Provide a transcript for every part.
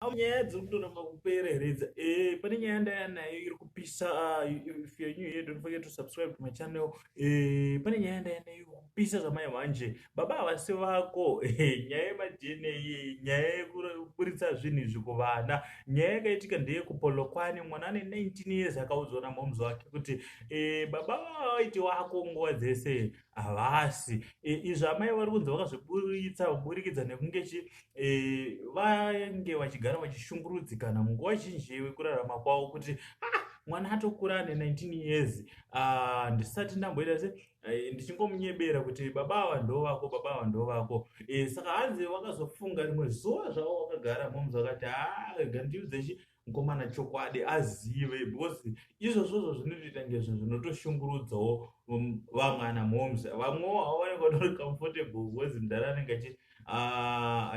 Haa nyaya dziri kutoramba kupera here dza eh, pane nyaya ndaya nayo iri kupisa ah, if you're new here don't forget to subscribe to my channel eh, pane nyaya ndaya nayo iri kupisa zvamai wanje baba havasi vako eh, nyaya yemadna iyi nyaya yekuburitsa zvinhu izvi kuvana nyaya yakaitika ndeye kupolokwane mwana ane 19 years akaudzwa namoms wake kuti eh, baba vavaiti wako nguva dzese havasi e, izvo amai vari kunzi vakazviburitsa kuburikidza nekunge chi e, vange vachigara vachishungurudzikana munguva zhinji yekurarama kwavo kuti ah, mwana atokura ane 19 years ah, ndisati uh, ndamboita se eh, ndichingomunyebera kuti baba ava ndo vako baba ava ndo vako e, saka hanzi vakazofunga rimwe zuva zvavo vakagara momzi vakati haa ah, gandiudzechi mukomana chokwadi azive because izvozvozvo zvinotoita ngezvo zvinotoshungurudzawo um, vamwe ana moms vamwewo havaoneka tori comfortable because mdhara anenge achiti ah,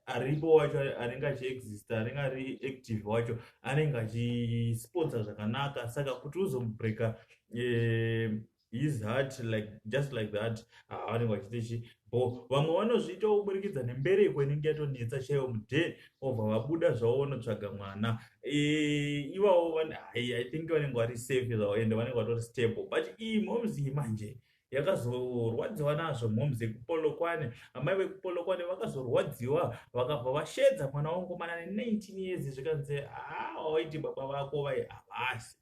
aripo wacho anenge achiexista anenge ari active wacho anenge achisponsa zvakanaka saka kuti uzomubreaka eh, his heart like just like that havanenge ah, vachiita chi bo vamwe vanozviitawo kuburikidza nembereko inenge yatonetsa chaiyo muday obva vabuda zvavo vanotsvaga mwana eh, ivavo i think vanenge vari safe zvavo ende vanenge vatori stable but iyi moms iyi manje yakazorwadziwa nazvo moms yekupolokwane amai vekupolokwane vakazorwadziwa vakabva vashedza mwana wangu mana ne19 years zvikanzi haa ah, waiti baba vako vai havasi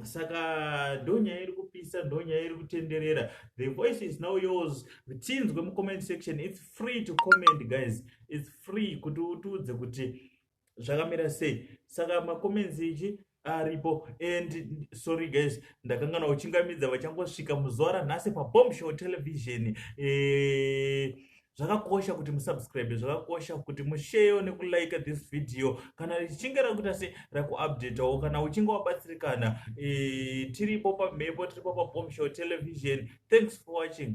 saka ndonyaya iri kupisa ndonyaya iri kutenderera the voice is now yours tinzwe mucomment section its free to comment guys its free kuti utiudze kuti zvakamira sei saka macomments ichi aripo and sorry guys ndakangana uchingamidza vachangosvika muzuva ranhasi pabomb show television e... zvakakosha kuti musubscribe zvakakosha kuti musheyo nekulike this video kana richinge rakuita se rakuupdatawo kana uchinge wabatsirikana e, tiripo pamhepo tiripo pabomshow television thanks for watching